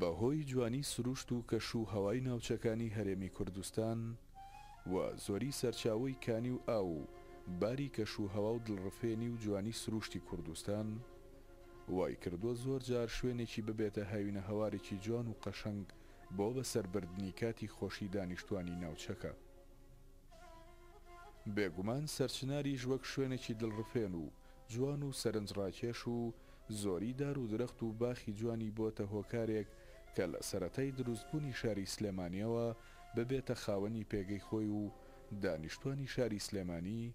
بەهۆی جوانی سروشت و کەش و هەوای ناوچەکانی هەرێمی کوردستان و زۆری سەرچاوەی کانی و ئاو و باری کەش و هەوا و دڵڕفێنی و جوانی سروشتی کوردستان، وای کردووە زۆر جار شوێنێکی ببێتە هاوینە هەوارێکی جوان و قەشەنگ بۆ بەسەر بردنی کاتی خۆشی دانیشتوانی ناوچەکە. بێگومان سەرچناریش وەک شوێنێکی دڵڕفێن و جوان و سەرنج ڕاکێش و زۆری دار و درەخت و باخی جوانی بۆتە هۆکارێک کە لە سەرەتای دروست بوونی شاری سلێمانیەوە ببێتە خاوەنی پێگەی خۆی و دانیشتوانی شاری سلێمانی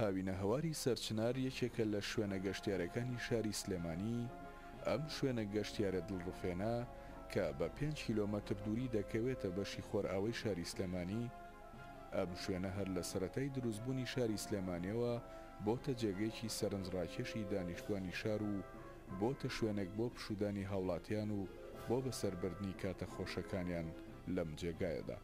هاوینەهەواری سەرچنار یەکێکە لە شوێنە گەشتیارەکانی شاری سلێمانی، ئەم شوێنە گەشتیارە دڵڕفێنە کە بە پێنج کیلۆمەتر دووری دەکەوێتە بەشی خۆرئاوەی شاری سلێمانی، ئەم شوێنە هەر لە سەرەتای دروستبوونی شاری سلێمانیەوە بۆتە جێگەیەکی سەرنجڕاکێشی دانیشتوانی شار و بۆتە شوێنێک بۆ پشوودانی هاوڵاتیان و بۆ بەسەربردنی کاتە خۆشەکانیان لەم جێگایەدا.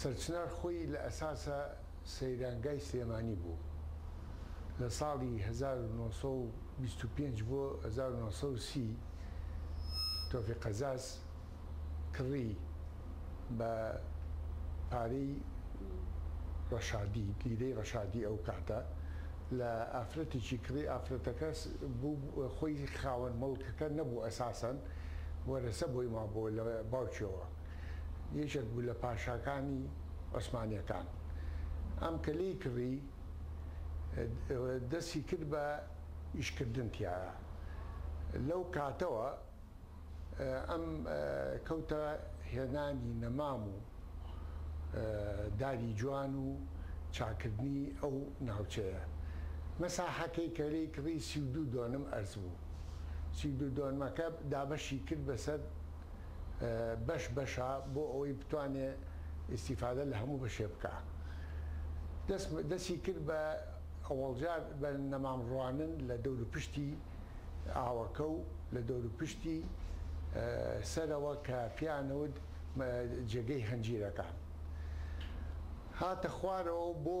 سەرچنار خۆی لە ئەساسا سەیرانگای سلێمانی بوو لە ساڵی هەزار و نۆ سەد و بیست و پێنج بۆ هەزار و نۆ سەد و سی تۆفیق قەزاز کڕی بە پارەی ڕەشادی لیرەی ڕەشادی ئەو کاتە لە ئافرەتێکی کڕی ئافرەتەکە بوو خۆی خاوەن موڵکەکە نەبوو ئەساسەن وەرەسە بۆی مابۆوە لە باوکیەوە. یەکێک بوو لە پاشاکانی عوسمانیەکان ئەم کە لێی کڕی دەستی کرد بە ئیش کردن تیایا لەو کاتەوە ئەم کەوتە هێنانی نەمام و داری جوان و چاکردنی ئەو ناوچەیە مەساحەکەی کە لێی کڕی سی و دوو دۆنم ئەرز بوو سی و دوو دۆنمەکە دابەشی کرد بەسەر بەش بەشە بۆ ئەوەی بتوانێ ئیستیفادە لە هەموو بەشێ بکا دەست دەستی کرد بە ئەوەڵجار بە نەمام ڕوانن لە دەورو پشتی ئاوەکە و لە دەورو پشتی سەرەوە کە پێیانەوت جێگەی هەنجیرەکان هاتە خوارەوە بۆ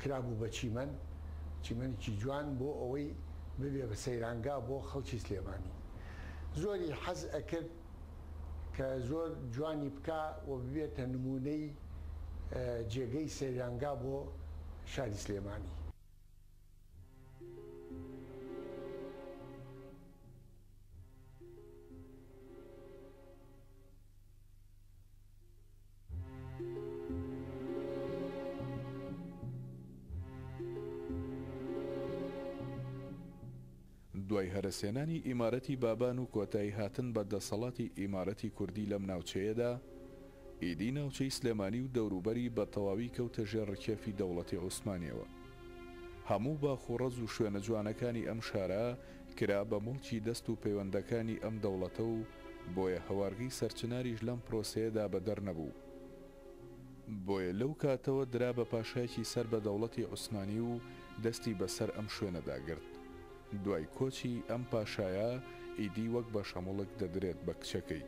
کرابوو بە چیمەن چیمەنێکی جوان بۆ ئەوەی ببێ بە سەیرانگا بۆ خەڵکی سلێمانی زۆری حەز ئەکرد کە زۆر جوانی بکا و ببێتە نمونەی جێگەی سەیرانگا بۆ شاری سلێمانی دوای هەرەسێنانی ئیمارەتی بابان و کۆتایی هاتن بە دەسەڵاتی ئیمارەتی کوردی لەم ناوچەیەدا، ئیدی ناوچەی سلێمانی و دەوروبەری بە تەواوی کەوتە ژێر ڕکێفی دەوڵەتی عوسمانیەوە. هەموو باخ و ڕەز و شوێنە جوانەکانی ئەم شارە کرا بە موڵکی دەست و پەیوەندەکانی ئەم دەوڵەتە و بۆیە هەوارگی سەرچناریش لەم پرۆسەیەدا بەدەر نەبوو. بۆیە لەو کاتەوە درا بە پاشایەکی سەر بە دەوڵەتی عوسمانی و دەستی بە سەر ئەم شوێنەدا گرت. دوای کۆچی ئەم پاشایە ئیدی وەک بەشەموڵک دەدرێت بە کچەکەی.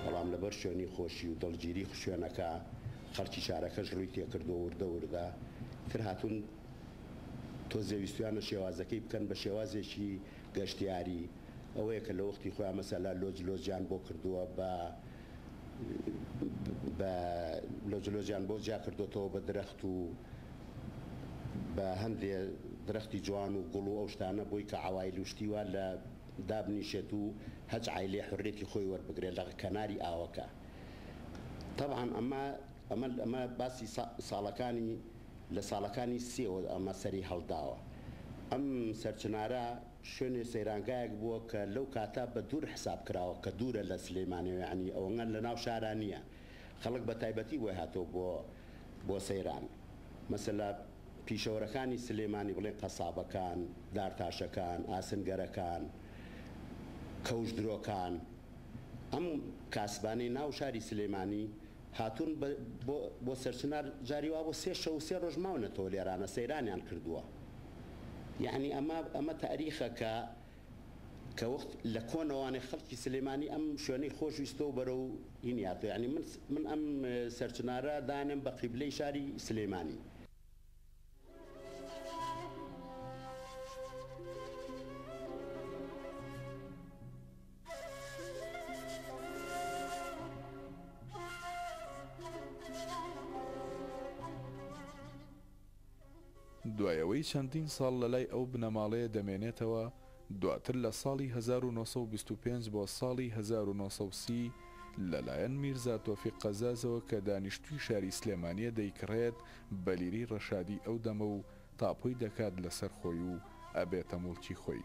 بەڵام لەبەر شوێنی خۆشی و دڵگیری شوێنەکە خەڵکی شارەکەش ڕووی تێکردووە وردە وردە تر هاتوون تۆزێ ویستویانە شێوازەکەی بکەن بە شێوازێکی گەشتیاری ئەوەیە کە لەوەختی خۆیان مەسەلا لۆج لۆجیان بۆ کردووە بە بە لۆج لۆجیان بۆ جیا کردۆتەوە بە درەخت و بە هەندێ درەختی جوان و گوڵ و ئەو شتانە بۆی کە عەوایل و شتی وا لە دابنیشێت و هەچ عایلێ حوریەتی خۆی وەربگرێ لە کەناری ئاوەکە تەبعەن ئەمە ئەمە ئەمە باسی ساڵەکانی لە ساڵەکانی سیەوە ئەمە سەری هەڵداوە ئەم سەرچنارە شوێنێ سەیرانگایەک بووە کە لەو کاتە بە دوور حساب کراوە کە دوورە لە سلیمانیەوە یانی ئەوەنە لە ناو شارا نیە خەڵک بە تایبەتی بۆی هاتووە بۆ بۆ سەیران مەسەلا پیشەوەرەکانی سلیمانی بڵێن قەسابەکان دارتاشەکان ئاسنگەرەکان کەوش درۆکان ئەم کاسبانەی ناو شاری سلیمانی هاتوون بۆ بۆ سەرچنار جاری وا بۆ سێ شەوو سێ ڕۆژ ماونەتەوە لێرانە سەیرانیان کردووە یەعنی ئەمە ئەمە تاریخە کە کە وەخت لە کۆنەوانێ خەڵکی سلێمانی ئەم شوێنەی خۆش ویستەوە بەرەو هین یاتۆ یعنی من من ئەم سەرچنارە دانێم بە قیبلەی شاری سلێمانی. دوای ئەوەی چەندین ساڵ لە لای ئەو بنەماڵەیە دەمێنێتەوە، دواتر لە ساڵی هەزار و نۆ سەد و بیست و پێنج بۆ ساڵی هەزار و نۆ سەد و سی لە لایەن میرزا تۆفیق قەزازەوە کە دانیشتووی شاری سلێمانییە دەیکڕێت بە لیرەی ڕەشادی ئەو دەمە و تاپۆی دەکات لەسەر خۆی و ئەبێتە موڵکی خۆی.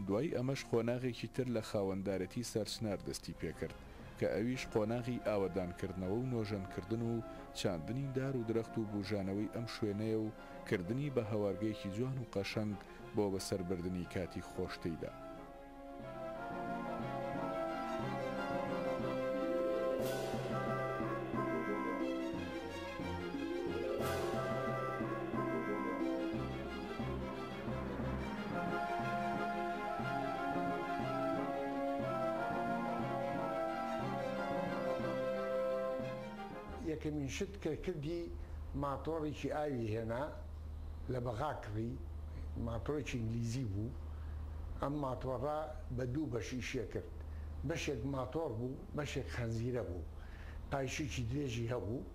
دوای ئەمەش قۆناغێکی تر لە خاوەندارێتی سەرچنار دەستی پێکرد کە ئەویش قۆناغی ئاوەدانکردنەوە و نۆژەنکردن و چاندنی دار و درەخت و بوژانەوەی ئەم شوێنەیە و کردنی بە هەوارگەیەکی جوان و قەشەنگ بۆ بەسەربردنی کاتی خۆش تێیدا. یەکەمین شت کە کردی ماتۆڕێکی ئاوی هێنا لە بەغا کڕی ماتۆرێکی ئینگلیزی بوو ئەم ماتۆڕە بە دوو بەش ئیشێ کرد بەشێک ماتۆڕ بوو بەشێک خەنزیرە بوو پایشێکی درێژی هەبوو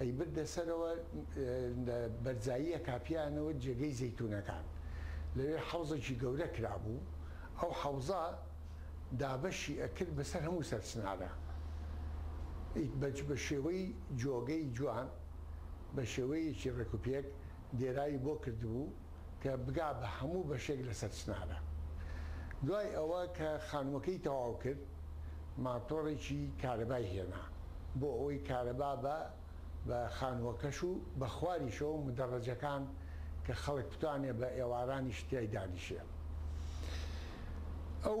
ئەیبردە سەرەوە لە بەرزاییە کاپییانەوە جێگەی زەیتوونەکان لەوێ حەوزێکی گەورە کرابوو ئەو حەوزە دابەشی ئەکرد بەسەر هەموو سەرچنارە ئیت بەج بەشێوەی جۆگەی جوان بەشێوەیەکی ڕێکوپێک دێراوی بۆ کردبوو. کە بگا بە هەموو بەشێک لەسەر چنارە. دوای ئەوە کە خانووەکەی تەواو کرد، ماتۆڕێکی کارەبای هێنا، بۆ ئەوەی کارەبا بە بە خانووەکەش و بە خواریشەوە مدەڕەجەکان کە خەڵک بتوانێ بە ئێوارانیش تیای دانیشێ. ئەو.